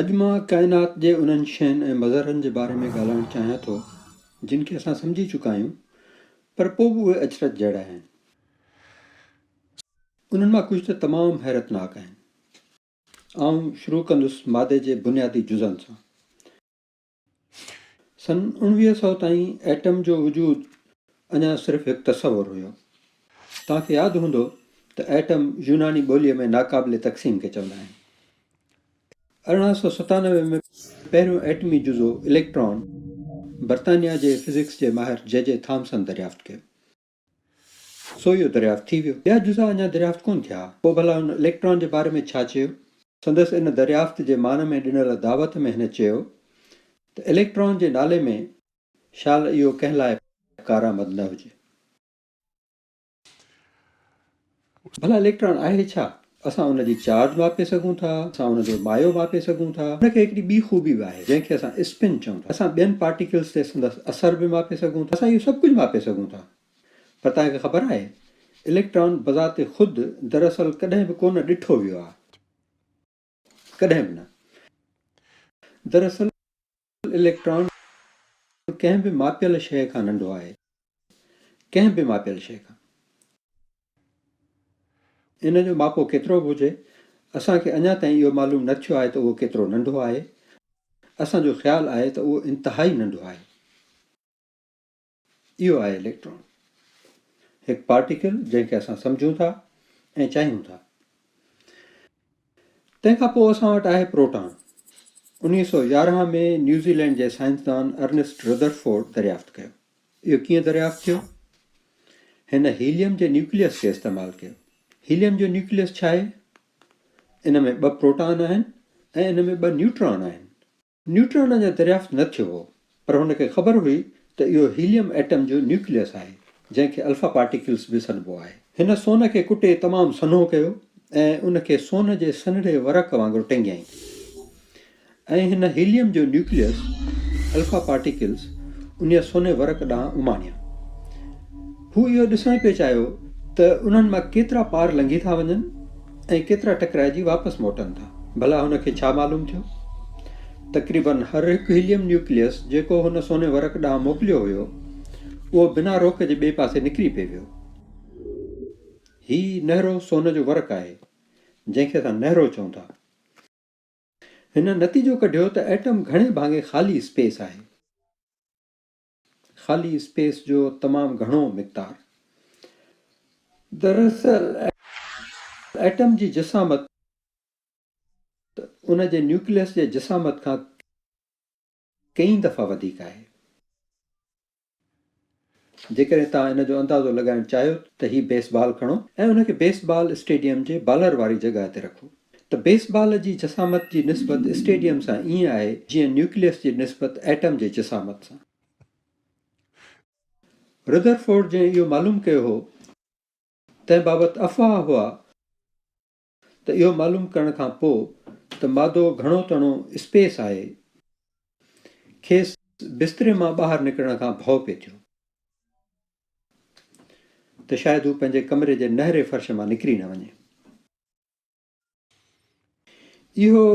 اڄ مان ڪائنات جي انهن شين ۽ مظهرن جي باري ۾ ڳالهائڻ چاهيان ٿو جن کي اسان سمجهي چڪا آهيون پر پوء به اهي اچرج جهڙا آهن. انهن مان ڪجهه ته تمام حيرتناڪ آهن. آئون شروع ڪندس مادي جي بنيادي جزن سان. سن اوڻويهه سؤ تائين ايٽم جو وجود اڃا صرف هڪ تصور هيو. توهان کي ياد هوندو ته ايٽم يوناني ٻوليء ۾ ناقابل تقسيم کي چوندا آهن. ارڙهن سؤ ستانوي ۾ پهريون ايٽمي جزو اليڪٽران برطانيا جي فزڪس جي ماهر جي جي ٿامسن دريافت ڪيو. سو اهو دريافت ٿي ويو. ٻيا جزا اڃا دريافت ڪونه ٿيا. پوء ڀلا هن اليڪٽران جي باري ۾ ڇا چيو؟ سندس ان دريافت جي مان ۾ ڏنل دعوت ۾ هن چيو ته اليڪٽران جي نالي ۾ شال اهو ڪنهن لاء ڪارآمد نه هجي. ڀلا اليڪٽران آهي ڇا؟ اسان ان جي چارج ماپي سگهون ٿا، اسان ان جو مايو ماپي سگهون ٿا. ان کي هڪڙي ٻي خوبي به آهي، جنهن کي اسان اسپن چئون ٿا. اسان ٻين پارٽيڪلز تي سندس اثر به ماپي سگهون ٿا. اسان اهو سڀ ڪجهه ماپي سگهون ٿا. پر توهان کي خبر آهي، اليڪٽران بذات خود دراصل ڪڏهن به ڪونه ڏٺو ويو آهي. ڪڏهن به نه. دراصل اليڪٽران ڪنهن به ماپيل شيء کان ننڍو آهي. ڪنهن به ماپيل شيء کان. ان جو ماپو ڪيترو به هجي، اسان کي اڃا تائين اهو معلوم نه ٿيو آهي ته اهو ڪيترو ننڍو آهي. اسان جو خيال آهي ته اهو انتهائي ننڍو آهي. اهو آهي اليڪٽران. هڪ پارٽيڪل جنهن کي اسان سمجهون ٿا ۽ چاهيون ٿا. تنهن کان پوء اسان وٽ آهي پروٽان. انهيء سؤ يارهن ۾ نيوزيلينڊ جي سائنسدان ارنسٽ رڌرفورڊ دريافت ڪيو. اهو ڪيئن دريافت ٿيو؟ هن هيليم جي نيوڪليس کي استعمال ڪيو. هيليم جو نيوڪليس ڇا آهي؟ ان ۾ ٻه پروٽان آهن ۽ ان ۾ ٻه نيوٽران آهن. نيوٽران اڃا دريافت نه ٿيو هو، پر هن کي خبر هئي ته اهو هيليم ايٽم جو نيوڪليس آهي، جنهن کي الفا پارٽيڪلز به سڏبو آهي. هن سون کي ڪٽي تمام سنهو ڪيو ۽ ان کي سون جي سنهڙي ورق وانگر ٽنگيائين ۽ هن هيليم جو نيوڪليس، الفا پارٽيڪلز، انهيء سوني ورق ڏانهن اماڻيا. هو اهو ڏسڻ پئي چاهيو ته انهن مان ڪيترا پار لنگهي ٿا وڃن. ۽ ڪيترا ٽڪرائجي واپس موٽن ٿا. ڀلا هن کي ڇا معلوم ٿيو؟ تقريباً هر هڪ هيليم نيوڪليس جيڪو هن سوني ورق ڏانهن موڪليو هيو، اهو بنا روڪ جي ٻئي پاسي نڪري پئي ويو. هي نهرو سون جو ورق آهي، جنهن کي اسان نهرو چئون ٿا. هن نتيجو ڪڍيو ته ايٽم گهڻي ڀاڱي خالي اسپيس آهي. خالي اسپيس جو تمام گهڻو مقدار دراصل ايٽم جي جسامت ان جي نيوڪليس جي جسامت کان ڪئين دفعا وڌيڪ آهي. جيڪڏهن توهان ان جو اندازو لڳائڻ چاهيو ته هي بيس بال کڻو ۽ ان کي بيس بال اسٽيڊيم جي بالر واري جڳهه تي رکو. ته بيس بال جي جسامت جي نسبت اسٽيڊيم سان ائين آهي جيئن نيوڪليس جي نسبت ايٽم جي جسامت سان. رڌرفورڊ جنهن اهو معلوم ڪيو هو تنهن بابت افواهه هئا ته اهو معلوم ڪرڻ کان پوء ته مادو گهڻو تڻو اسپيس آهي کيس بستري مان ٻاهر نڪرڻ کان ڀؤ پئي ٿيو ته شايد هو پنهنجي ڪمري جي نهري فرش مان نڪري نه وڃي. اهو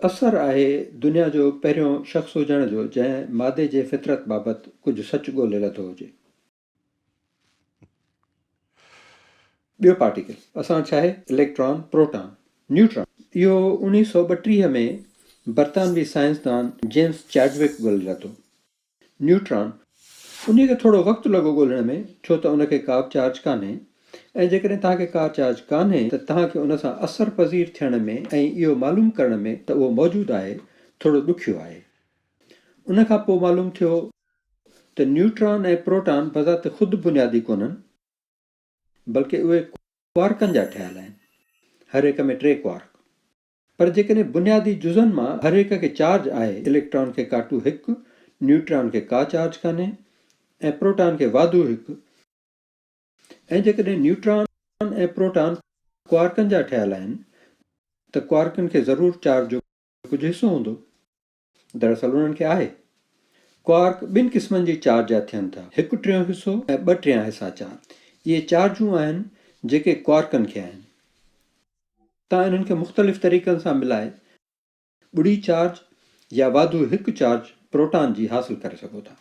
اثر آهي دنيا جو پهريون شخص هجڻ جو جنهن مادي جي فطرت بابت ڪجهه سچ ڳولي لڌو هجي. ٻيو پارٽيڪل اسان ڇاهي اليڪٽران، پروٽان، نيوٽران اهو اڻيهه سؤ ٻٽيهه ۾ برطانوي سائنسدان جيمس چيڊوڪ ڳولي لڌو. نيوٽران. انهيء کي ٿورو وقت لڳو ڳولڻ ۾ ڇو ته ان کي ڪابه چارج ڪانهي ۽ جيڪڏهن توهان کي ڪا چارج ڪانهي ته توهان کي ان سان اثر پذير ٿيڻ ۾ ۽ اهو معلوم ڪرڻ ۾ ته اهو موجود آهي ٿورو ڏکيو آهي. ان کان پوء معلوم ٿيو ته نيوٽران ۽ پروٽان بذات خود بنيادي ڪونهن بلڪه اهي ڪوارڪن جا ٺهيل آهن هر هڪ ۾ ٽي ڪوارڪ. پر جيڪڏهن بنيادي جزن مان هر هڪ کي چارج آهي، اليڪٽران کي ڪاٽو هڪ، نيوٽران کي ڪا چارج ڪانهي ۽ پروٽان کي واڌو هڪ، ۽ جيڪڏهن نيوٽران ۽ پروٽان ڪوارڪن جا ٺهيل آهن ته ڪوارڪن کي ضرور چارج جو ڪجهه حصو هوندو. دراصل انهن کي آهي. ڪوارڪ ٻن قسمن جي چارج جا ٿين ٿا، هڪ ٽيون حصو ۽ ٻه ٽيان حصا چار. اهي چارجون آهن جيڪي ڪوارڪن کي آهن. تان انهن کي مختلف طريقن سان ملائي ٻڙي چارج يا واڌو هڪ چارج پروٽان جي حاصل ڪري سگهو ٿا.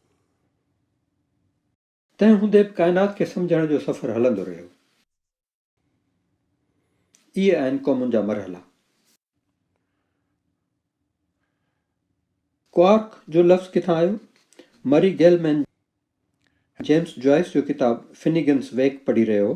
تنهن هوندي به ڪائنات کي سمجهڻ جو سفر هلندو رهيو. اهي آهن قومن جا مرحلا. ڪوارڪ جو لفظ ڪٿان آيو؟ مري گيلمين جيمس جوائس جو ڪتاب فنيگنس ويڪ پڙهي رهيو هو.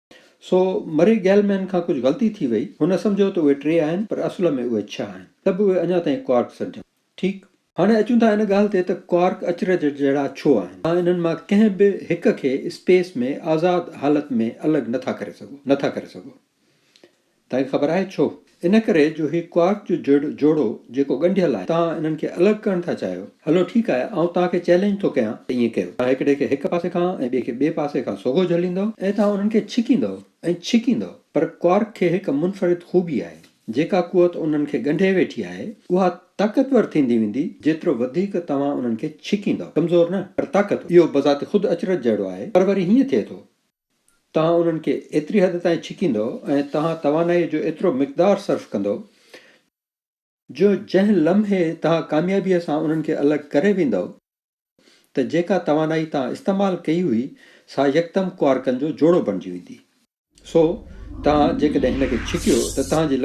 سو مري گيلمين کان ڪجهه غلطي ٿي وئي، هن سمجهيو ته اهي ٽي آهن پر اصل ۾ اهي ڇهه آهن، ته به اهي اڃا تائين ڪوارڪ سڏجن ٿا. ٺيڪ. هاڻي اچون ٿا ان ڳالهه تي ته ڪوارڪ اچرج جهڙا ڇو آهن. توهان انهن مان ڪنهن به هڪ کي اسپيس ۾ آزاد حالت ۾ الڳ نه ٿا ڪري سگهو، نه ٿا ڪري سگهو. تنهن کي خبر آهي ڇو؟ ان ڪري جو هي ڪوارڪ جو جڙ، جوڙو، جيڪو ڳنڍيل آهي، توهان انهن کي الڳ ڪرڻ ٿا چاهيو. هلو ٺيڪ آهي، آئون توهان کي چئلينج ٿو ڪيان ته ائين ڪيو. توهان هڪڙي کي هڪ پاسي کان ۽ ٻئي کي ٻئي پاسي کان سوگهو جهليندؤ ۽ توهان انهن کي ڇڪيندؤ ۽ ڇڪيندؤ. پر ڪوارڪ کي هڪ منفرد خوبي آهي. جيڪا قوت انهن کي ڳنڍي ويٺي آهي، اها طاقتور ٿيندي ويندي، جيترو وڌيڪ توهان انهن کي ڇڪيندؤ. ڪمزور نه، پر طاقتور. اهو بذات خود اچرج جهڙو آهي، پر وري هيئن ٿئي ٿو. توهان انهن کي ايتري حد تائين ڇڪيندو ۽ توهان توانائيء جو ايترو مقدار صرف ڪندو جو جنهن لمحي توهان ڪاميابيء سان انهن کي الڳ ڪري ويندو ته جيڪا توانائي توهان استعمال ڪئي هئي سا يڪدم ڪوارڪن جو جوڙو بڻجي ويندي. سو توهان جيڪڏهن هن کي ڇڪيو ته توهان جي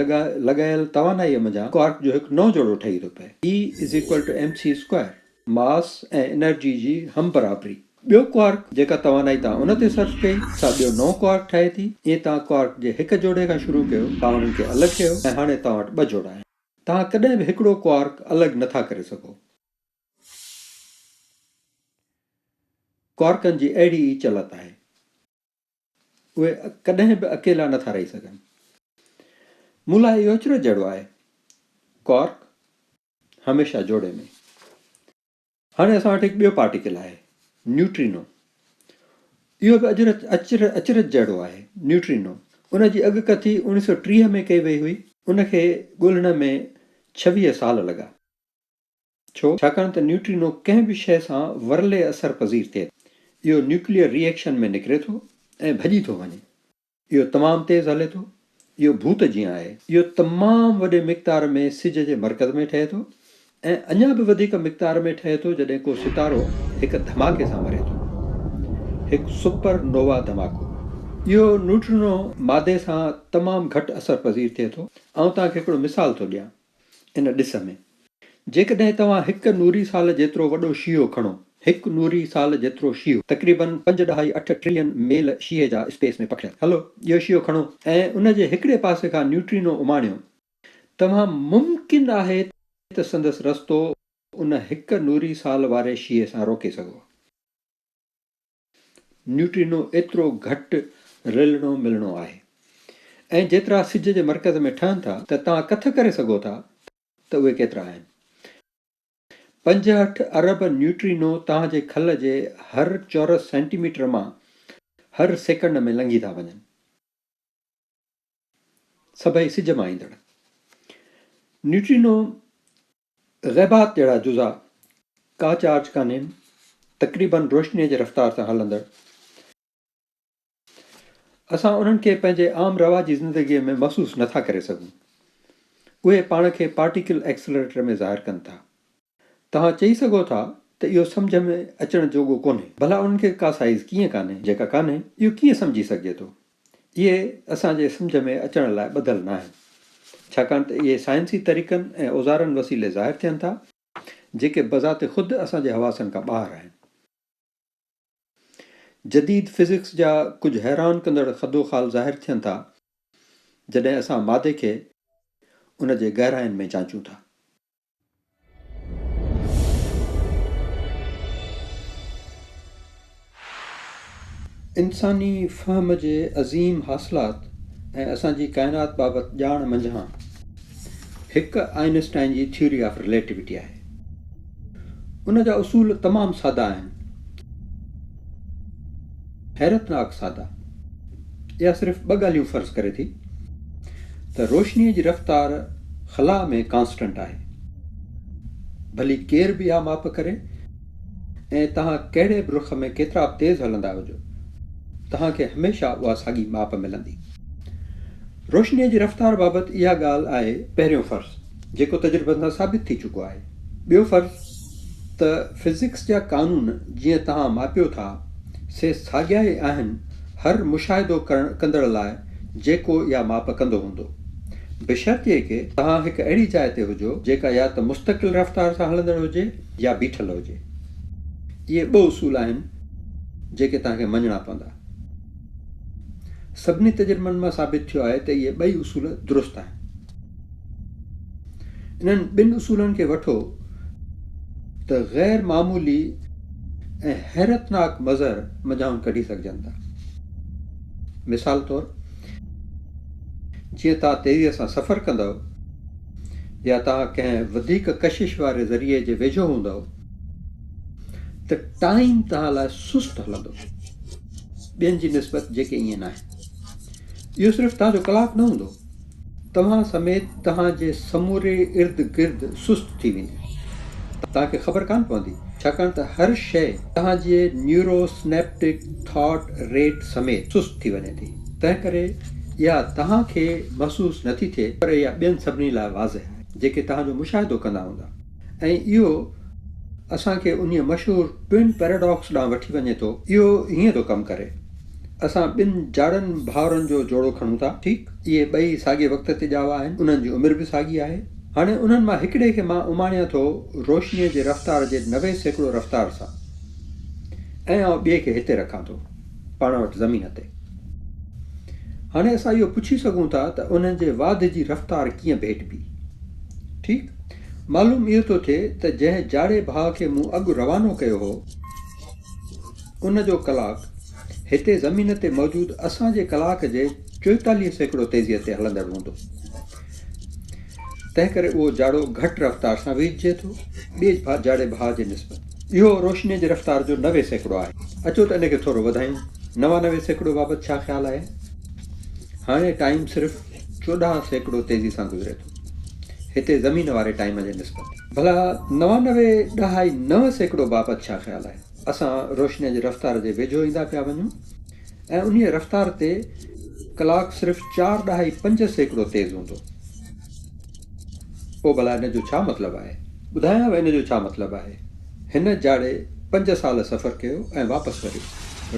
لڳايل توانائيء منجهان ڪوارڪ جو هڪ نئون جوڙو ٺهي ٿو پئي، E=mc اسڪوائر، ماس ۽ انرجي جي هم برابري. ٻيو ڪوارڪ جيڪا توانائي توهان ان تي صرف ڪئي سا ٻيو نئون ڪوارڪ ٺاهي ٿي. جيئن توهان ڪوارڪ جي هڪ جوڙي کان شروع ڪيو، توهان انهن کي الڳ ڪيو ۽ هاڻي توهان وٽ ٻه جوڙا آهن. توهان ڪڏهن به هڪڙو ڪوارڪ الڳ نه ٿا ڪري سگهو. ڪوارڪن جي اهڙي ئي چلت آهي. اهي ڪڏهن به اڪيلا نه ٿا رهي سگهن. مون لاء اهو اچرج جهڙو آهي. ڪوارڪ هميشه جوڙي ۾. هاڻي اسان وٽ هڪ ٻيو پارٽيڪل آهي، نيوٽرينو. اهو به اجرت اچرج جهڙو آهي، نيوٽرينو. ان جي اڳڪٿي اوڻيهه سؤ ٽيهه ۾ ڪئي وئي هئي. ان کي ڳولڻ ۾ ڇويهه سال لڳا. ڇو؟ ڇاڪاڻ ته نيوٽرينو ڪنهن به شيء سان ورلي اثر پذير ٿئي ٿو. اهو نيوڪليئر ري ايڪشن ۾ نڪري ٿو ۽ ڀڄي ٿو وڃي. اهو تمام تيز هلي ٿو. اهو ڀوت جيان آهي. اهو تمام وڏي مقدار ۾ سج جي مرڪز ۾ ٺهي ٿو ۽ اڃا به وڌيڪ مقدار ۾ ٺهي ٿو جڏهن ڪو ستارو هڪ ڌماڪي سان مري ٿو. هڪ سپر نووا ڌماڪو. اهو نوٽرينو مادي سان تمام گهٽ اثر پذير ٿئي ٿو. آئون توهان کي هڪڙو مثال ٿو ڏيان. ان ڏس ۾. جيڪڏهن توهان هڪ نوري سال جيترو وڏو شيهو کڻو. هڪ نوري سال جيترو شيهو. تقريباً پنج ڏهائي اٺ ٽريلين ميل شيهي جا اسپيس ۾ پکڙيل. هلو اهو شيهو کڻو ۽ ان جي هڪڙي پاسي کان نيوٽرينو اماڻيو. توهان ممڪن آهي ته سندس رستو ان هڪ نوري سال واري شيهي سان روڪي سگهو. نيوٽرينو ايترو گهٽ رلڻو ملڻو آهي ۽ جيترا سج جي مرڪز ۾ ٺهن ٿا ته توهان ڪٿ ڪري سگهو ٿا ته اهي ڪيترا آهن؟ پنجهٺ ارب نيوٽرينو توهان جي کل جي هر چورس سينٽي ميٽر مان هر سيڪنڊ ۾ لنگهي ٿا وڃن. سڀئي سج مان ايندڙ نيوٽرينو غيبات جهڙا جزا ڪا چارج ڪانهي تقريبن روشنيء جي رفتار سان هلندڙ اسان انهن کي پنهنجي عام رواجي زندگيء ۾ محسوس نٿا ڪري سگهون اهي پاڻ کي پارٽيڪل ايڪسلريٽر ۾ ظاهر ڪن ٿا توهان چئي سگهو ٿا ته اهو سمجهه ۾ اچڻ جوڳو ڪونهي. ڀلا انهن کي ڪا سائيز ڪيئن ڪانهي جيڪا ڪانهي؟ اهو ڪيئن سمجهي سگهجي ٿو؟ اهي اسان جي سمجهه ۾ اچڻ لاء ٻڌل ناهن، ڇاڪاڻ ته اهي سائنسي طريقن ۽ اوزارن وسيلي ظاهر ٿين ٿا، جيڪي بذات خود اسان جي حواسن کان ٻاهر آهن. جديد فزڪس جا ڪجهه حيران ڪندڙ خدوخال ظاهر ٿين ٿا، جڏهن اسان مادي کي ان جي گهراين ۾ جانچون ٿا. انساني فهم جي عظيم حاصلات ۽ اسان جي ڪائنات بابت ڄاڻ منجهان هڪ آئن اسٽائن جي ٿيوري آف رليٽوٽي آهي. ان جا اصول تمام سادا آهن. حيرتناڪ سادا، اها صرف ٻه ڳالهيون فرض ڪري ٿي ته روشنيء جي رفتار خلا ۾ ڪانسٽنٽ آهي، ڀلي ڪير به اها ماپ ڪري ۽ توهان ڪهڙي به رخ ۾ ڪيترا به تيز هلندا هجو، توهان کي هميشه اها ساڳي ماپ ملندي. روشنيء جي رفتار بابت اها ڳالهه آهي پهريون فرض. جيڪو تجربن سان ثابت ٿي چڪو آهي. ٻيو فرض ته فزڪس جا قانون جيئن توهان ماپيو ٿا، سي ساڳيا ئي آهن هر مشاهدو ڪرڻ ڪندڙ لاء جيڪو اها ماپ ڪندو هوندو. بشرطيڪه توهان هڪ اهڙي جاء تي هجو جيڪا يا ته مستقل رفتار سان هلندڙ هجي يا بيٺل هجي. اهي ٻه اصول آهن جيڪي توهان کي مڃڻا پوندا. سڀني تجربن مان ثابت ٿيو آهي ته اهي ٻئي اصول درست آهن. انهن ٻن اصولن کي وٺو ته غير معمولي ۽ حيرتناڪ مظهر منجهانئن ڪڍي سگهجن ٿا. مثال طور، جيئن توهان تيزيء سان سفر ڪندؤ يا توهان ڪنهن وڌيڪ ڪشش واري ذريعي جي ويجهو هوندؤ ته ٽائيم توهان لاء سست هلندو، ٻين جي نسبت جيڪي ائين ناهن. اهو صرف توهان جو ڪلاڪ نه هوندو. توهان سميت توهان جي سموري ارد گرد سست ٿي ويندي. توهان کي خبر ڪانه پوندي ڇاڪاڻ ته هر شيء توهان جي نيورو سنيپٽڪ ٿاٽ ريٽ سميت سست ٿي وڃي ٿي. تنهن ڪري اها توهان کي محسوس نٿي ٿئي پر اها ٻين سڀني لاء واضح آهي جيڪي توهان جو مشاهدو ڪندا هوندا. ۽ اهو اسان کي انهيء مشهور Twin Paradox ڏانهن وٺي وڃي ٿو. اهو هيئن ٿو ڪم ڪري. اسان ٻن جاڙن ڀائرن جو جوڙو کڻون ٿا، ٺيڪ. اهي ٻئي ساڳئي وقت تي ڄاوا آهن، انهن جي عمر به ساڳي آهي. هاڻي انهن مان هڪڙي کي مان اماڻيان ٿو روشنيء جي رفتار جي نوي سيڪڙو رفتار سان ۽ آئون ٻئي کي هتي رکان ٿو، پاڻ وٽ زمين تي. هاڻي اسان اهو پڇي سگهون ٿا ته انهن جي واڌ جي رفتار ڪيئن ڀيٽبي؟ ٺيڪ. معلوم اهو ٿو ٿئي ته جنهن جاڙي ڀاء کي مون اڳ روانو ڪيو هو، ان جو ڪلاڪ هتي زمين تي موجود اسان جي ڪلاڪ جي چوئيتاليهه سيڪڙو تيزيء تي هلندڙ هوندو. تنهنڪري اهو جاڙو گهٽ رفتار سان ويجهجي ٿو، ٻئي جاڙي ڀاء جي نسبت. اهو روشنيء جي رفتار جو نوي سيڪڙو آهي. اچو ته ان کي ٿورو وڌايون. نوانوي سيڪڙو بابت ڇا خيال آهن؟ هاڻي ٽائيم صرف چوڏهن سيڪڙو تيزي سان گذري ٿو. هتي زمين واري ٽائيم جي نسبت. ڀلا نوانوي ڏهائي نو سيڪڙو بابت ڇا خيال آهي؟ اسان روشنيء جي رفتار جي ويجهو ايندا پيا وڃون ۽ انهيء رفتار تي ڪلاڪ صرف چار ڏهائي پنج سيڪڙو تيز هوندو. پوء ڀلا ان جو ڇا مطلب آهي؟ ٻڌايانء ان جو ڇا مطلب آهي. هن جاڙي پنج سال سفر ڪيو ۽ واپس وريو،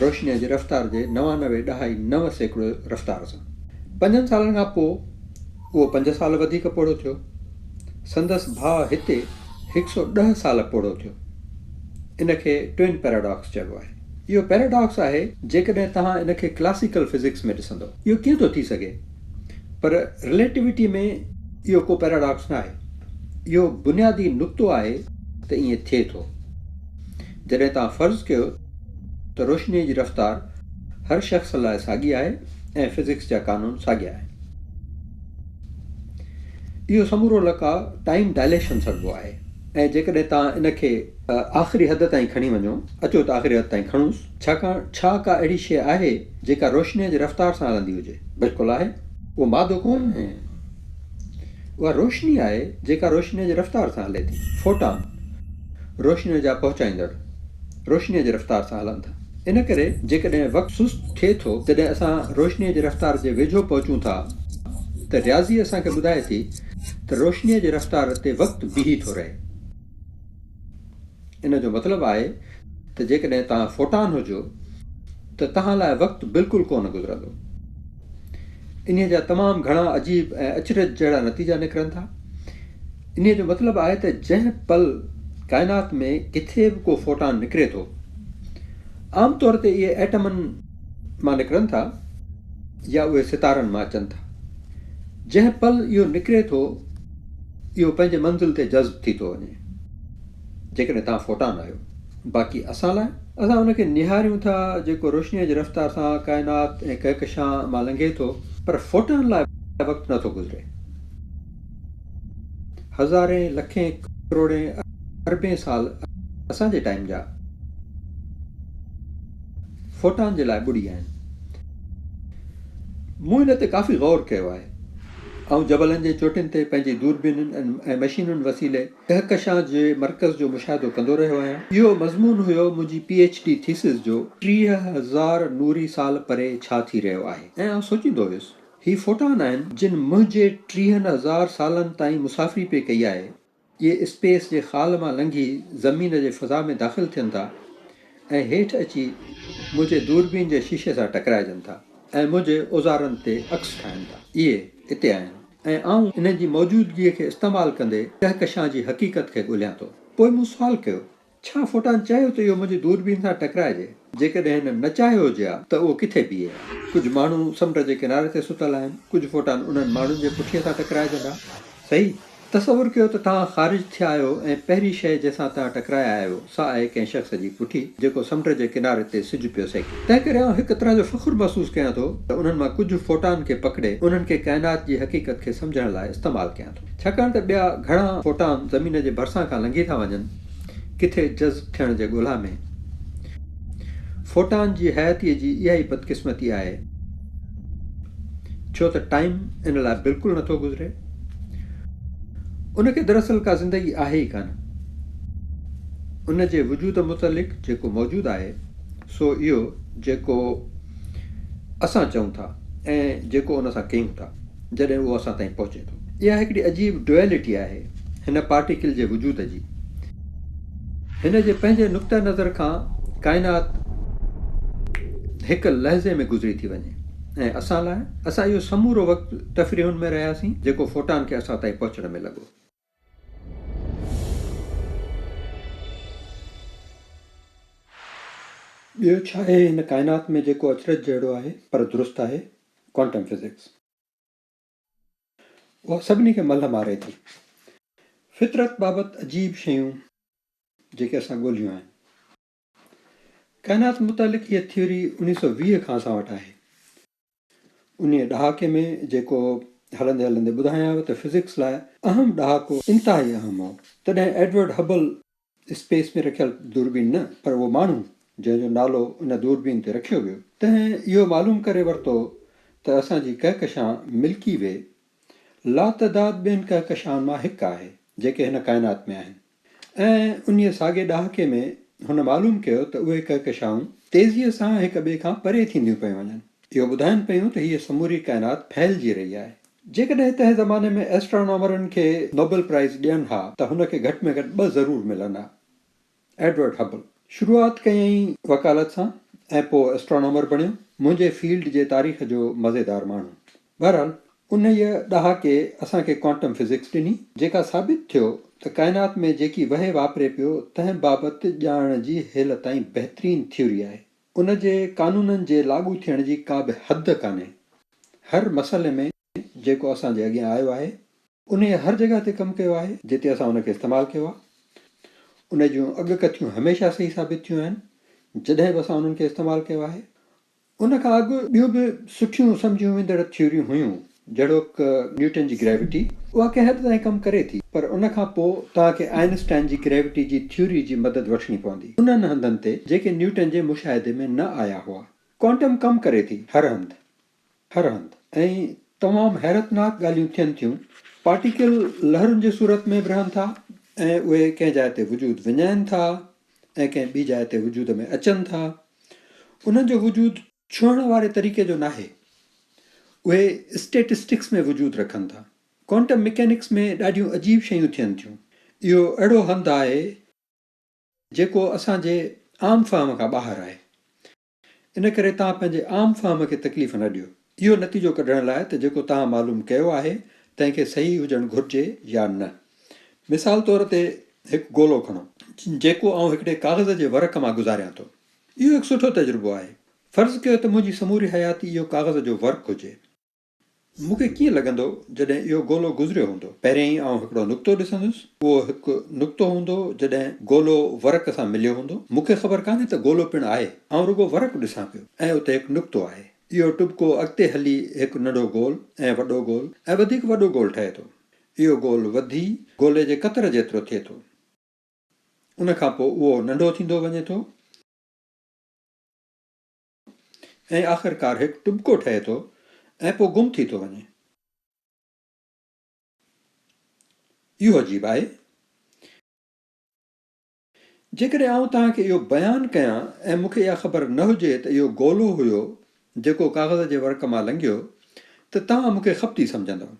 روشنيء جي رفتار جي نوانوي ڏهائي نو سيڪڙو رفتار سان. پنجن سالن کان پوء اهو پنج سال وڌيڪ پوڙهو ٿيو. سندس ڀاء هتي هڪ سؤ ڏهه سال پوڙهو ٿيو. ان کي Twin Paradox چئبو آهي. اهو پيراڊاڪس آهي جيڪڏهن توهان ان کي ڪلاسيڪل فزڪس ۾ ڏسندو. اهو ڪيئن ٿو ٿي سگهي؟ پر رليٽويٽي ۾ اهو ڪو پيراڊاڪس ناهي. اهو بنيادي نقطو آهي ته ائين ٿئي ٿو. جڏهن توهان فرض ڪيو ته روشنيء جي رفتار هر شخص لاء ساڳي آهي ۽ فزڪس جا قانون ساڳيا آهن. اهو سمورو لقاء ٽائيم ڊائليشن سڏبو آهي ۽ جيڪڏهن توهان ان کي. آخري حد تائين کڻي وڃو. اچو ته آخري حد تائين کڻونس. ڇاڪاڻ ڇا ڪا اهڙي شيء آهي جيڪا روشنيء جي رفتار سان هلندي هجي؟ بلڪل آهي. اهو مادو ڪونه آهي. اها روشني آهي جيڪا روشنيء جي رفتار سان هلي ٿي. فوٽان روشنيء جا پهچائيندڙ روشنيء جي رفتار سان هلن ٿا. ان ڪري جيڪڏهن وقت سست ٿئي ٿو جڏهن اسان روشنيء جي رفتار جي ويجهو پهچون ٿا ته رياضي اسان کي ٻڌائي ٿي ته روشنيء جي رفتار تي وقت بيهي ٿو رهي. ان جو مطلب آهي ته جيڪڏهن توهان فوٽان هجو ته توهان لاء وقت بلڪل ڪونه گذرندو. انهي جا تمام گهڻا عجيب ۽ اچرج جهڙا نتيجا نڪرن ٿا. انهي جو مطلب آهي ته جنهن پل ڪائنات ۾ ڪٿي به ڪو فوٽان نڪري ٿو، عام طور تي اهي ايٽمن مان نڪرن ٿا يا اهي ستارن مان اچن ٿا. جنهن پل اهو نڪري ٿو، اهو پنهنجي منزل تي جذب ٿي ٿو وڃي. جيڪڏهن توهان فوٽان آهيو. باقي اسان لاء؟ اسان ان کي نهاريون ٿا جيڪو روشنيء جي رفتار سان ڪائنات ۽ ڪهڪشان مان لنگهي ٿو، پر فوٽان لاء وقت نٿو گذري. هزارين، لکين، ڪروڙين، اربين سال اسان جي ٽائيم جا فوٽان جي لاء ٻڏي آهن. مون ان تي ڪافي غور ڪيو آهي. آئون جبلن جي چوٽين تي پنهنجي دوربينين ۽ مشينن وسيلي ڪهڪشان جي مرڪز جو مشاهدو ڪندو رهيو آهيان. اهو مضمون هيو منهنجي پي ايڇ ڊي ٿيسز جو ٽيهه هزار نوري سال پري ڇا ٿي رهيو آهي ۽ آئون سوچيندو هيس هي فوٽان آهن جن منهنجي ٽيهن هزار سالن تائين مسافري پئي ڪئي آهي، اهي اسپيس جي خال مان لنگهي زمين جي فضا ۾ داخل ٿين ٿا ۽ هيٺ اچي منهنجي دوربين جي شيشي سان ٽڪرائجن ٿا ۽ منهنجي اوزارن تي عڪس ٺاهن ٿا. اهي اتي آهن. ۽ آئون انهن جي موجودگيء کي استعمال ڪندي ڪهڪشان جي حقيقت کي ڳولهيان ٿو. پوء مون سوال ڪيو، ڇا فوٽان چاهيو ته اهو منهنجي دوربين سان ٽڪرائجي؟ جيڪڏهن هن نه چاهيو هجي ها ته اهو ڪٿي بيهي ها؟ ڪجهه ماڻهو سمنڊ جي ڪناري تي ستل آهن، ڪجهه فوٽان انهن ماڻهن جي پٺيء سان ٽڪرائجندا. صحيح. تصور ڪيو ته توهان خارج ٿيا آهيو ۽ پهرين شيء جنهن سان توهان ٽڪرايا آهيو، سا آهي ڪنهن شخص جي پٺي، جيڪو سمنڊ جي ڪناري تي سج پيو سيڪي. تنهن ڪري آئون هڪ طرح جو فخر محسوس ڪيان ٿو ته انهن مان ڪجهه فوٽان کي پڪڙي انهن کي ڪائنات جي حقيقت کي سمجهڻ لاء استعمال ڪيان ٿو ڇاڪاڻ ته ٻيا گهڻا فوٽان زمين جي ڀرسان کان لنگهي ٿا وڃن ڪٿي جذب ٿيڻ جي ڳولا ۾. فوٽان جي حياتيء جي اها ئي بدقسمتي آهي ڇو ته ٽائيم ان لاء بلڪل نٿو گذري. ان کي دراصل ڪا زندگي آهي ئي ڪانه. ان جي وجود متعلق جيڪو موجود آهي. سو اهو جيڪو اسان چئون ٿا ۽ جيڪو ان سان ڪيون ٿا جڏهن اهو اسان تائين پهچي ٿو. اها هڪڙي عجيب Duality آهي هن پارٽيڪل جي وجود جي. هن جي پنهنجي نقطه نظر کان ڪائنات هڪ لحظي ۾ گذري ٿي وڃي ۽ اسان لاء؟ اسان اهو سمورو وقت تفريحن ۾ رهياسين جيڪو فوٽان کي اسان تائين پهچڻ ۾ لڳو. ٻيو ڇا آهي هن ڪائنات ۾ جيڪو اچرج جهڙو آهي پر درست آهي؟ Quantum physics. اها سڀني کي ملهه ماري ٿي. فطرت بابت عجيب شيون جيڪي اسان ڳولهيون آهن. ڪائنات متعلق هيء ٿيوري انهيء سؤ ويهه کان اسان وٽ آهي. انهيء ڏهاڪي ۾ جيڪو هلندي هلندي ٻڌايانء ته فزڪس لاء اهم ڏهاڪو انتهائي اهم هو، تڏهن ايڊورڊ هبل اسپيس ۾ رکيل دوربين نه پر اهو ماڻهو جنهن جو نالو ان دوربين تي رکيو ويو، تنهن اهو معلوم ڪري ورتو ته اسان جي ڪهڪشان ملڪي وي لاتعداد ٻين ڪهڪشائن مان هڪ آهي، جيڪي هن ڪائنات ۾ آهن. ۽ انهيء ساڳئي ڏهاڪي ۾ هن معلوم ڪيو ته اهي ڪهڪشائون تيزيء سان هڪ ٻئي کان پري ٿينديون پيون وڃن. اهو ٻڌائين پيون ته هيء سموري ڪائنات ڦهلجي رهي آهي. جيڪڏهن تنهن زماني ۾ ائسٽرانامرن کي نوبل پرائز ڏين ها ته هن کي گهٽ ۾ گهٽ ٻه ضرور ملن ها. ايڊورڊ هبل شروعات ڪيائين وڪالت سان ۽ پوء ائسٽرانامر بڻيو، منهنجي فيلڊ جي تاريخ جو مزيدار ماڻهو. بهرحال انهيء ڏهاڪي اسان کي ڪوانٽم فزڪس ڏني، جيڪا ثابت ٿيو ته ڪائنات ۾ جيڪي وهي واپري پيو تنهن بابت ڄاڻڻ جي هيل تائين بهترين ٿيوري آهي. ان جي قانونن جي لاڳو ٿيڻ جي ڪا به حد ڪانهي. هر مسئلي ۾ جيڪو اسان جي اڳيان آيو آهي، انهيء هر جڳهه تي ڪم ڪيو آهي، جتي اسان ان کي استعمال ڪيو آهي، انهيء جون اڳڪٿيون هميشه صحيح ثابت ٿيون آهن، جڏهن به اسان انهن کي استعمال ڪيو آهي، ان کان اڳ ٻيون به سٺيون سمجهيون ويندڙ ٿيوريون هيون، جهڙوڪ نيوٽن جي گريوٽي، اها ڪنهن حد تائين ڪم ڪري ٿي، پر ان کان پوء توهان کي آئن اسٽائن جي گريوٽي جي ٿيوري جي مدد وٺڻي پوندي، انهن هنڌن تي، جيڪي نيوٽن جي مشاهدي ۾ نه آيا هئا. ڪوانٽم ڪم ڪري ٿي، هر هنڌ. هر هنڌ. ۽ تمام حيرتناڪ ڳالهيون ٿين ٿيون. پارٽيڪل لهرن جي صورت ۾ به رهن ٿا ۽ اهي ڪنهن جاء تي وجود وڃائين ٿا، ۽ ڪنهن ٻي جاء تي وجود ۾ اچن ٿا، انهن جو وجود ڇهڻ واري طريقي جو ناهي. اهي اسٽيٽسٽڪس ۾ وجود رکن ٿا. ڪوانٽم مڪينڪس ۾ ڏاڍيون عجيب شيون ٿين ٿيون. اهو اهڙو هنڌ آهي، جيڪو اسان جي عام فهم کان ٻاهر آهي. ان ڪري توهان پنهنجي عام فهم کي تڪليف نه ڏيو اهو نتيجو ڪڍڻ لاء ته جيڪو توهان معلوم ڪيو آهي تنهن کي صحيح هجڻ گهرجي يا نه. مثال طور تي هڪ گولو کڻو. جيڪو آئون هڪڙي ڪاغذ جي ورق مان گذاريان ٿو. اهو هڪ سٺو تجربو آهي. فرض ڪيو ته منهنجي سموري حياتي اهو ڪاغذ جو ورق هجي. مون کي ڪيئن لڳندو جڏهن اهو گولو گذريو هوندو؟ پهريائين آئون هڪڙو نقطو ڏسندس. اهو هڪ نقطو هوندو جڏهن گولو ورق سان مليو هوندو. مون کي خبر ڪانهي ته گولو پڻ آهي. آئون رڳو ورق ڏسان پيو ۽ اتي هڪ نقطو آهي. اهو ٽٻڪو اڳتي هلي هڪ ننڍو گول ۽ وڏو گول ۽ وڌيڪ وڏو گول ٺهي ٿو. اهو گول وڌي گولي جي قطر جيترو ٿئي ٿو. ان کان پوء اهو ننڍو ٿيندو وڃي ٿو. ۽ آخرڪار هڪ ٽٻڪو ٺهي ٿو ۽ پوء گم ٿي ٿو وڃي. اهو عجيب آهي. جيڪڏهن آئون توهان کي اهو بيان ڪيان ۽ مون کي اها خبر نه هجي ته اهو گولو هيو جيڪو ڪاغذ جي ورق مان لنگهيو ته توهان مون کي خبطي سمجهندؤ.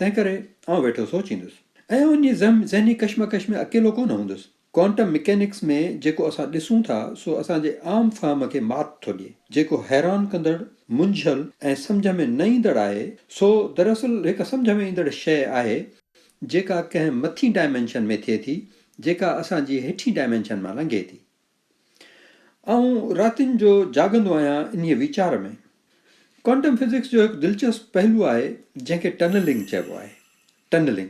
تنهنڪري آئون ويٺو سوچيندس ۽ ان جي ذهني ڪشمڪش ۾ اڪيلو ڪونه هوندس. ڪوانٽم مڪينڪس ۾ جيڪو اسان ڏسون ٿا سو اسان جي عام فهم کي مات ٿو ڏئي. جيڪو حيران ڪندڙ، منجهيل ۽ سمجهه ۾ نه ايندڙ آهي سو دراصل هڪ سمجهه ۾ ايندڙ شيء آهي جيڪا ڪنهن مٿين ڊائمينشن ۾ ٿئي ٿي جيڪا اسان جي هيٺين ڊائمينشن مان لنگهي ٿي. آئون راتين جو جاڳندو آهيان انهيء ويچار ۾. ڪوانٽم فزڪس جو هڪ دلچسپ پهلو آهي جنهن کي ٽنلنگ چئبو آهي. ٽنلنگ.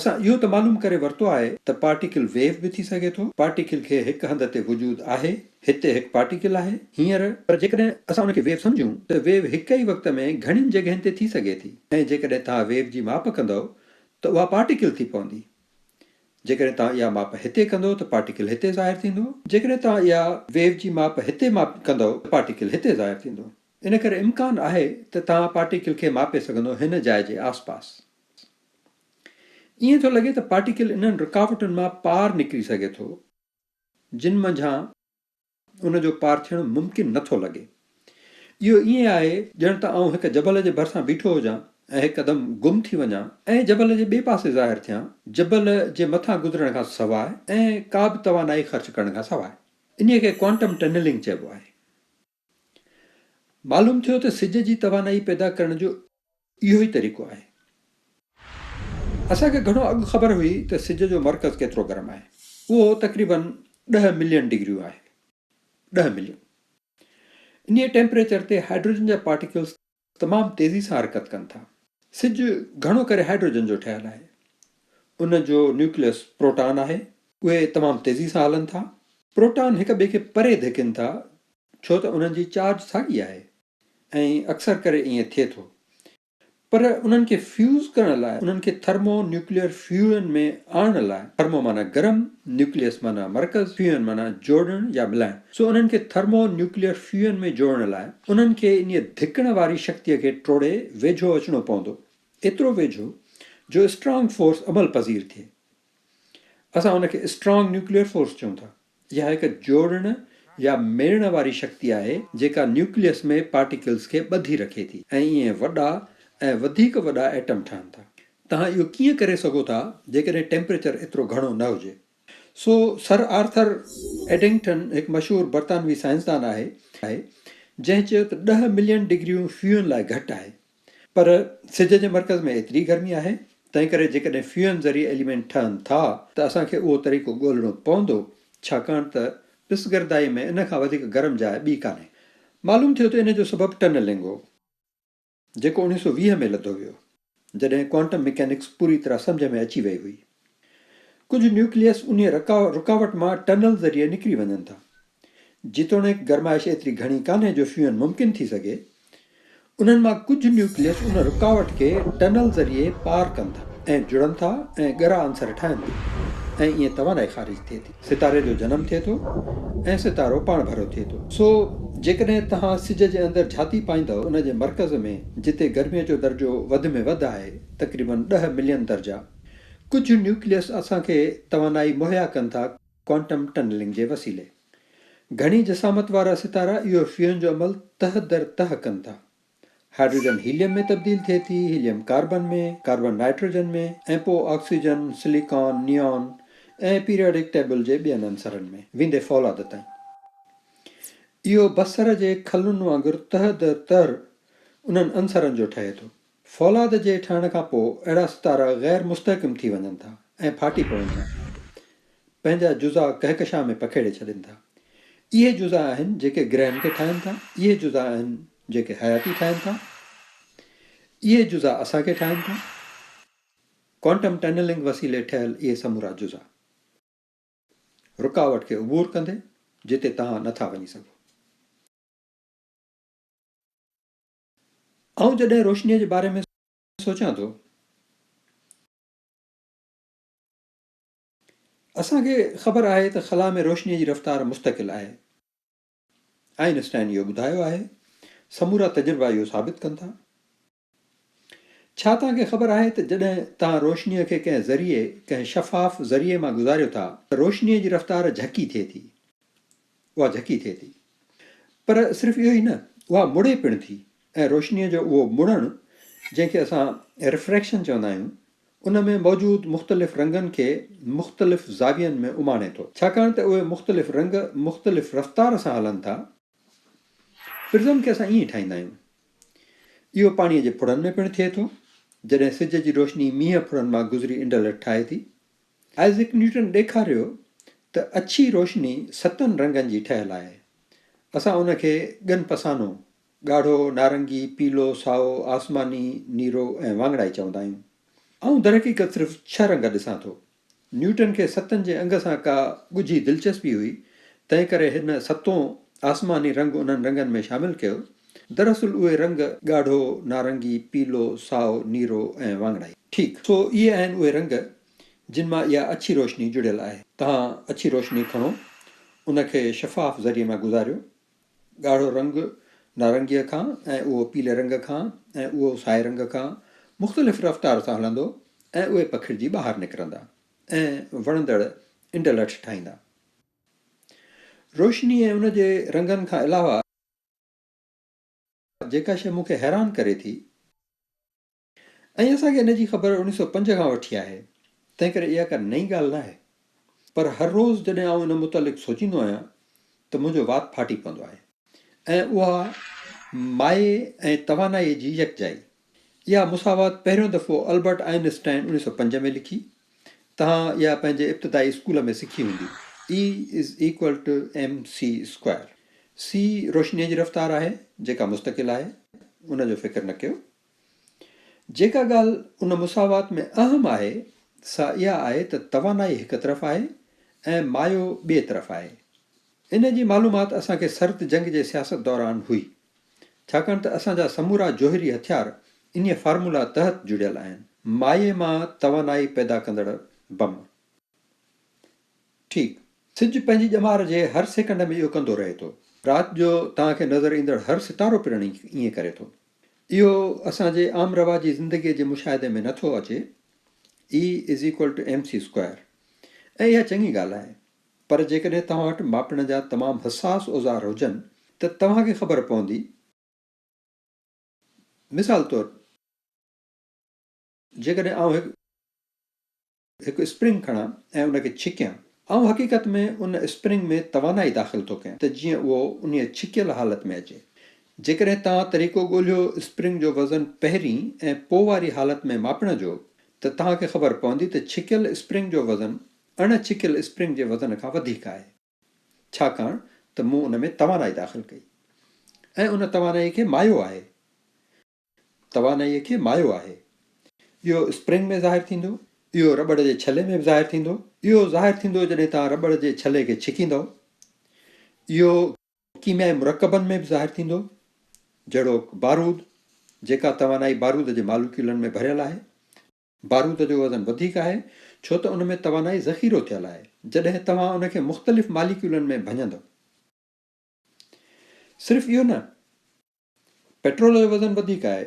اسان اهو ته معلوم ڪري ورتو آهي ته پارٽيڪل ويو به ٿي سگهي ٿو. پارٽيڪل کي هڪ هنڌ تي وجود آهي. هتي هڪ پارٽيڪل آهي. هينئر. پر جيڪڏهن اسان ان کي ويو سمجهون ته ويو هڪ ئي وقت ۾ گهڻين جڳهين تي ٿي سگهي ٿي ۽ جيڪڏهن توهان ويو جي ماپ ڪندؤ ته اها پارٽيڪل ٿي پوندي. جيڪڏهن توهان اها ماپ هتي ڪندو ته پارٽيڪل هتي ظاهر ٿيندو، جيڪڏهن توهان اها ويو جي ماپ هتي ماپ ڪندو ته پارٽيڪل هتي ظاهر ٿيندو. ان ڪري امڪان آهي ته توهان پارٽيڪل کي ماپي سگهندو هن جاء جي آس پاس. ائين ٿو لڳي ته پارٽيڪل انهن رڪاوٽن مان پار نڪري سگهي ٿو جن منجهان. ان جو پار ٿيڻ ممڪن نه ٿو لڳي. اهو ائين آهي ڄڻ ته آئون هڪ جبل جي ڀرسان بيٺو هجان ۽ هڪدم گم ٿي وڃان ۽ جبل جي ٻئي پاسي ظاهر ٿيان، جبل جي مٿان گذرڻ کان سواء ۽ ڪا به توانائي خرچ ڪرڻ کان سواء. انهيء کي ڪوانٽم ٽنلنگ چئبو آهي. معلوم ٿيو ته سج جي توانائي پيدا ڪرڻ جو. اهو ئي طريقو آهي. اسان کي گهڻو اڳ خبر هئي ته سج جو مرڪز ڪيترو گرم آهي. اهو تقريباً ڏهه ملين ڊگريون آهي. ڏهه ملين. انهيء ٽيمپريچر تي هائڊروجن جا پارٽيڪلز تمام تيزي سان حرڪت ڪن ٿا. سج گهڻو ڪري هائڊروجن جو ٺهيل آهي. ان جو نيوڪليس پروٽان آهي. اهي تمام تيزي سان هلن ٿا. پروٽان هڪ ٻئي کي پري ڌڪين ٿا ڇو ته انهن جي چارج ساڳي آهي. ۽ اڪثر ڪري ائين ٿئي ٿو. پر انهن کي فيوز ڪرڻ لاء انهن کي ٿرمو نيوڪليئر فيوئن ۾ آڻڻ لاء، ٿرمو معنيٰ گرم، نيوڪليئس معنيٰ مرڪز، فيوئن معنيٰ جوڙڻ يا ملائڻ، سو انهن کي ٿرمو نيوڪليئر فيوئن ۾ جوڙڻ لاء، انهن کي انهيء ڌڪڻ واري شڪتيء کي ٽوڙي ويجهو اچڻو پوندو، ايترو ويجهو جو اسٽرانگ فورس عمل پذير ٿئي. اسان ان کي اسٽرانگ نيوڪليئر فورس چئون ٿا. اها هڪ جوڙڻ يا ميڙڻ واري شڪتي آهي جيڪا نيوڪليس ۾ پارٽيڪلز کي ٻڌي رکي ٿي ۽ ائين وڏا ۽ وڌيڪ وڏا ايٽم ٺهن ٿا. توهان اهو ڪيئن ڪري سگهو ٿا جيڪڏهن ٽيمپريچر ايترو گهڻو نه هجي؟ سو سر آرٿر ايڊنگٽن هڪ مشهور برطانوي سائنسدان آهي جنهن چيو ته ڏهه ملين ڊگريون فيون لاء گهٽ آهي. پر سج جي مرڪز ۾ ايتري گرمي آهي، تنهنڪري جيڪڏهن فيوئن ذريعي ايليمينٽ ٺهن ٿا ته اسان کي اهو طريقو ڳولڻو پوندو، ڇاڪاڻ ته پسگردائي ۾ ان کان وڌيڪ گرم جاء ٻي ڪانهي. معلوم ٿيو ته ان جو سبب ٽنلنگ هو، جيڪو اوڻيهه سؤ ويهه ۾ لڌو ويو، جڏهن ڪوانٽم ميڪانڪس پوري طرح سمجهه ۾ اچي وئي هئي. ڪجهه نيوڪليس انهيء رڪاوٽ مان ٽنل ذريعي نڪري وڃن ٿا. جيتوڻيڪ گرمائش ايتري گهڻي ڪانهي جو شيون ممڪن ٿي سگهي، انهن مان ڪجهه نيوڪليس ان رڪاوٽ کي ٽنل ذريعي پار ڪن ٿا ۽ جڙن ٿا ۽ ڳرا عنصر ٺاهن ٿا ۽ ائين توانائي خارج ٿئي ٿي. ستاري جو جنم ٿئي ٿو ۽ ستارو پاڻڀرو ٿئي ٿو. سو جيڪڏهن توهان سج جي اندر جهاتي پائيندؤ ان جي مرڪز ۾ جتي گرميء جو درجو وڌ ۾ وڌ آهي تقريبن ڏهه ملين درجا، ڪجهه نيوڪليس اسان کي توانائي مهيا ڪن ٿا ڪوانٽم ٽنلنگ جي وسيلي. گهڻي جسامت وارا ستارا اهو فيون جو عمل تهه در تهه ڪن ٿا. هائڊروجن هيليم ۾ تبديل ٿئي ٿي، هيليم ڪاربن ۾، ڪاربن نائٽروجن ۾ ۽ پوء oxygen, silicon, neon ۽ periodic table جي ٻين عنصرن ۾ ويندي فولاد تائين. اهو بصر جي کلن وانگر تهه در تهه انهن عنصرن جو ٺهي ٿو. فولاد جي ٺهڻ کان پوء اهڙا ستارا غير مستحڪم ٿي وڃن ٿا ۽ ڦاٽي پون ٿا. پنهنجا جزا ڪهڪشان ۾ پکيڙي ڇڏين ٿا. اهي جزا آهن جيڪي گرهن کي ٺاهن ٿا. اهي جزا آهن جيڪي حياتي ٺاهن ٿا. اهي جزا اسان کي ٺاهن ٿا. ڪوانٽم ٽنلنگ وسيلي ٺهيل اهي سمورا جزا. رڪاوٽ کي عبور ڪندي جتي توهان نه ٿا وڃي سگهو. آئون جڏهن روشنيء جي باري ۾ سوچيان ٿو ته. اسان کي خبر آهي ته خلا ۾ روشنيء جي رفتار مستقل آهي. آئن اسٽائن اهو ٻڌايو آهي. سمورا تجربا اهو ثابت ڪن ٿا. ڇا توهان کي خبر آهي ته جڏهن توهان روشنيء کي ڪنهن ذريعي، ڪنهن شفاف ذريعي مان گذاريو ٿا ته روشنيء جي رفتار جهڪي ٿئي ٿي. اها جهڪي ٿئي ٿي. پر صرف اهو ئي نه، اها مڙي پڻ ٿي ۽ روشنيء جو اهو مڙڻ، جنهن کي اسان رفريڪشن چوندا آهيون، ان ۾ موجود مختلف رنگن کي مختلف زاوين ۾ اماڻي ٿو. ڇاڪاڻ ته اهي مختلف رنگ مختلف رفتار سان هلن ٿا. پرزم کي اسان ائين ٺاهيندا آهيون. اهو پاڻيء جي ڦڙن ۾ پڻ ٿئي ٿو. جڏهن سج جي روشني مينهن ڦڙن مان گذري انڊلٺ ٺاهي ٿي، آئزڪ نيوٽن ڏيکاريو ته اڇي روشني ستن رنگن جي ٺهيل آهي. اسان ان کي ڳن پسانو، ڳاڙهو، نارنگي، پيلو، سائو، آسماني، نيرو ۽ واڱڻائي چوندا آهيون. آئون درحقيقت صرف ڇهه رنگ ڏسان ٿو. نيوٽن کي ستن جي انگ سان ڪا ڳجهي دلچسپي هئي، تنهنڪري هن ستون آسماني رنگ انهن رنگن ۾ شامل ڪيو. دراصل اهي رنگ ڳاڙهو، نارنگي، پيلو، سائو، نيرو ۽ واڱڻائي. ٺيڪ، سو اهي آهن اهي رنگ جن مان اها اڇي روشني جڙيل آهي. توهان اڇي روشني کڻو، ان کي شفاف ذريعي مان گذاريو. ڳاڙهو رنگ نارنگيء کان ۽ اهو پيلي رنگ کان ۽ اهو سائي رنگ کان مختلف رفتار سان هلندو ۽ اهي پکڙجي ٻاهر نڪرندا ۽ وڻندڙ انڊلٺ ٺاهيندا. روشني ۽ ان جي رنگن کان علاوه، جيڪا شيء مون کي حيران ڪري ٿي ۽ اسان کي ان جي خبر اڻيهه سؤ پنج کان وٺي آهي، تنهنڪري اها ڪا نئين ڳالهه ناهي، پر هر روز جڏهن آئون ان متعلق سوچيندو آهيان ته منهنجو وات ڦاٽي پوندو آهي. ۽ اها مايي ۽ توانائيء جي يڪجائي. اها مساوات پهريون دفعو البرٽ آئن اسٽائن اڻيهه سؤ پنج ۾ لکي. توهان اها پنهنجي ابتدائي اسڪول ۾ سکي هوندي. E is equal to mc square. C روشنيء جي رفتار آهي، جيڪا مستقل آهي، ان جو فڪر نه ڪيو. جيڪا ڳالهه ان مساوات ۾ اهم آهي، سا اها آهي ته توانائي هڪ طرف آهي ۽ مايو ٻئي طرف آهي. ان جي معلومات اسان کي سرد جنگ جي سياست دوران هئي. ڇاڪاڻ ته اسان جا سمورا جوهري هٿيار انهيء فارمولا تحت جڙيل آهن. مائي مان توانائي پيدا ڪندڙ بم. ٺيڪ، سج پنهنجي ڄمار جي هر سيڪنڊ ۾ اهو ڪندو رهي ٿو. رات جو توهان کي نظر ايندڙ هر ستارو پڻ ائين ڪري ٿو. اهو اسان جي عام رواجي زندگيء جي مشاهدي ۾ نه ٿو اچي، E is equal to mc square، ۽ اها چڱي ڳالهه آهي. پر جيڪڏهن توهان وٽ ماپڻ جا تمام حساس اوزار هجن ته توهان کي خبر پوندي مثال طور جيڪڏهن آئون هڪ هڪ اسپرنگ کڻان ۽ ان کي ڇڪيان آئون حقيقت ۾ ان اسپرنگ ۾ توانائي داخل ٿو ڪيان ته جيئن اهو انهي ڇڪيل حالت ۾ اچي جيڪڏهن توهان طريقو ڳولهيو اسپرنگ جو وزن پهرين ۽ پوء واري حالت ۾ ماپڻ جو ته توهان کي خبر پوندي ته ڇڪيل اسپرنگ جو وزن اڻ ڇڪيل اسپرنگ جي وزن کان وڌيڪ آهي ڇاڪاڻ ته مون ان ۾ توانائي داخل ڪئي ۽ ان توانائي کي مايو آهي توانائي کي مايو آهي اهو اسپرنگ ۾ ظاهر ٿيندو اهو رٻڙ جي ڇلي ۾ به ظاهر ٿيندو اهو ظاهر ٿيندو جڏهن توهان رٻڙ جي ڇلي کي ڇڪيندؤ اهو ڪيميائي مرڪبن ۾ به ظاهر ٿيندو جهڙوڪ بارود جيڪا توانائي بارود جي ماليڪيولن ۾ ڀريل آهي بارود جو وزن وڌيڪ آهي ڇو ته ان ۾ توانائي ذخيرو ٿيل آهي جڏهن توهان ان کي مختلف ماليڪيولن ۾ ڀڃندؤ صرف اهو نه پيٽرول جو وزن وڌيڪ آهي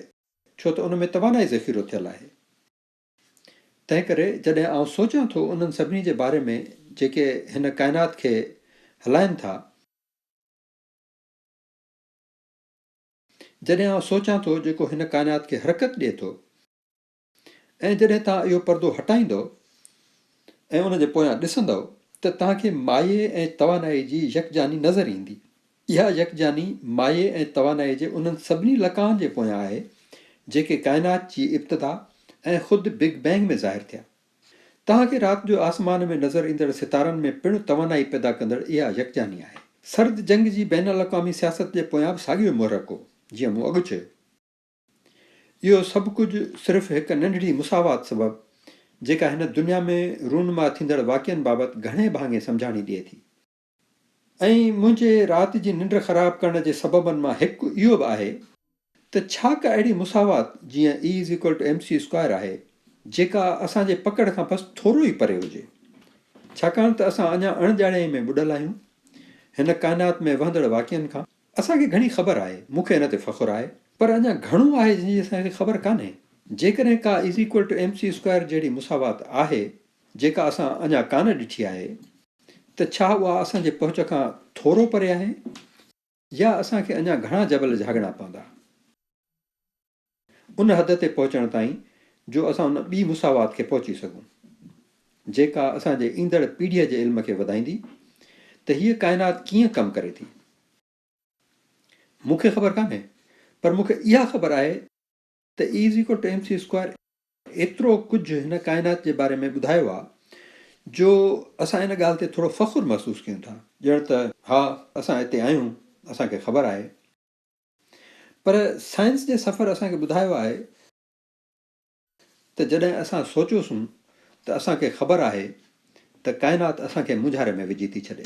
ڇو ته ان ۾ توانائي ذخيرو ٿيل آهي تنهن ڪري جڏهن آئون سوچان ٿو انهن سڀني جي باري ۾ جيڪي هن ڪائنات کي هلائين ٿا جڏهن آئون سوچان ٿو جيڪو هن ڪائنات کي حرڪت ڏئي ٿو. ۽ جڏهن توهان اهو پردو هٽائيندؤ ۽ ان جي پويان ڏسندؤ ته توهان کي مايي ۽ توانائي جي يڪجاني نظر ايندي. اها يڪجاني مايي ۽ توانائي جي انهن سڀني لقائن جي پويان آهي جيڪي ڪائنات جي ابتدا ۽ خود بگ بينگ ۾ ظاهر ٿيا. توهان کي رات جو آسمان ۾ نظر ايندڙ ستارن ۾ پڻ توانائي پيدا ڪندڙ اها يڪجاني آهي. سرد جنگ جي بين الاقوامي سياست جي پويان به ساڳيو ئي محرڪ هو جيئن مون اڳ چيو. اهو سڀ ڪجهه صرف هڪ ننڍڙي مساوات سبب، جيڪا هن دنيا ۾ رونما ٿيندڙ واقعن بابت گهڻي ڀاڱي سمجهاڻي ڏئي ٿي. ۽ منهنجي رات جي ننڊ خراب ڪرڻ جي سببن مان هڪ اهو به آهي، ته ڇا ڪا اهڙي مساوات جيئن E is equal to MC square آهي، جيڪا اسان جي پڪڙ کان بس ٿورو ئي پري هجي؟ ڇاڪاڻ ته اسان اڃا اڻڄاڻائي ۾ ٻڏل آهيون، هن ڪائنات ۾ وهندڙ واقعن کان. اسان کي گهڻي خبر آهي، مون کي ان تي فخر آهي، پر اڃا گهڻو آهي جنهن جي اسان کي خبر ڪانهي. جيڪڏهن ڪا is equal to M C square جهڙي مساوات آهي، جيڪا اسان اڃا ڪانه ڏٺي آهي، ته ڇا اها اسان جي پهچ کان ٿورو پري آهي يا اسان کي اڃا گهڻا جبل جهاڳڻا پوندا؟ ان حد تي پهچڻ تائين جو اسان ان ٻي مساوات کي پهچي سگهون جيڪا اسان جي ايندڙ پيڙهيء جي علم کي وڌائيندي ته هيء ڪائنات ڪيئن ڪم ڪري ٿي. مون کي خبر ڪانهي پر مون کي اها خبر آهي ته E is equal to M C square ايترو ڪجهه هن ڪائنات جي باري ۾ ٻڌايو آهي جو اسان ان ڳالهه تي ٿورو فخر محسوس ڪيون ٿا ڄڻ ته ها اسان اتي آهيون اسان کي خبر آهي. پر سائنس جي سفر اسان کي ٻڌايو آهي ته جڏهن اسان سوچيوسون ته اسان کي خبر آهي ته ڪائنات اسان کي مونجهاري ۾ وجهي ٿي ڇڏي.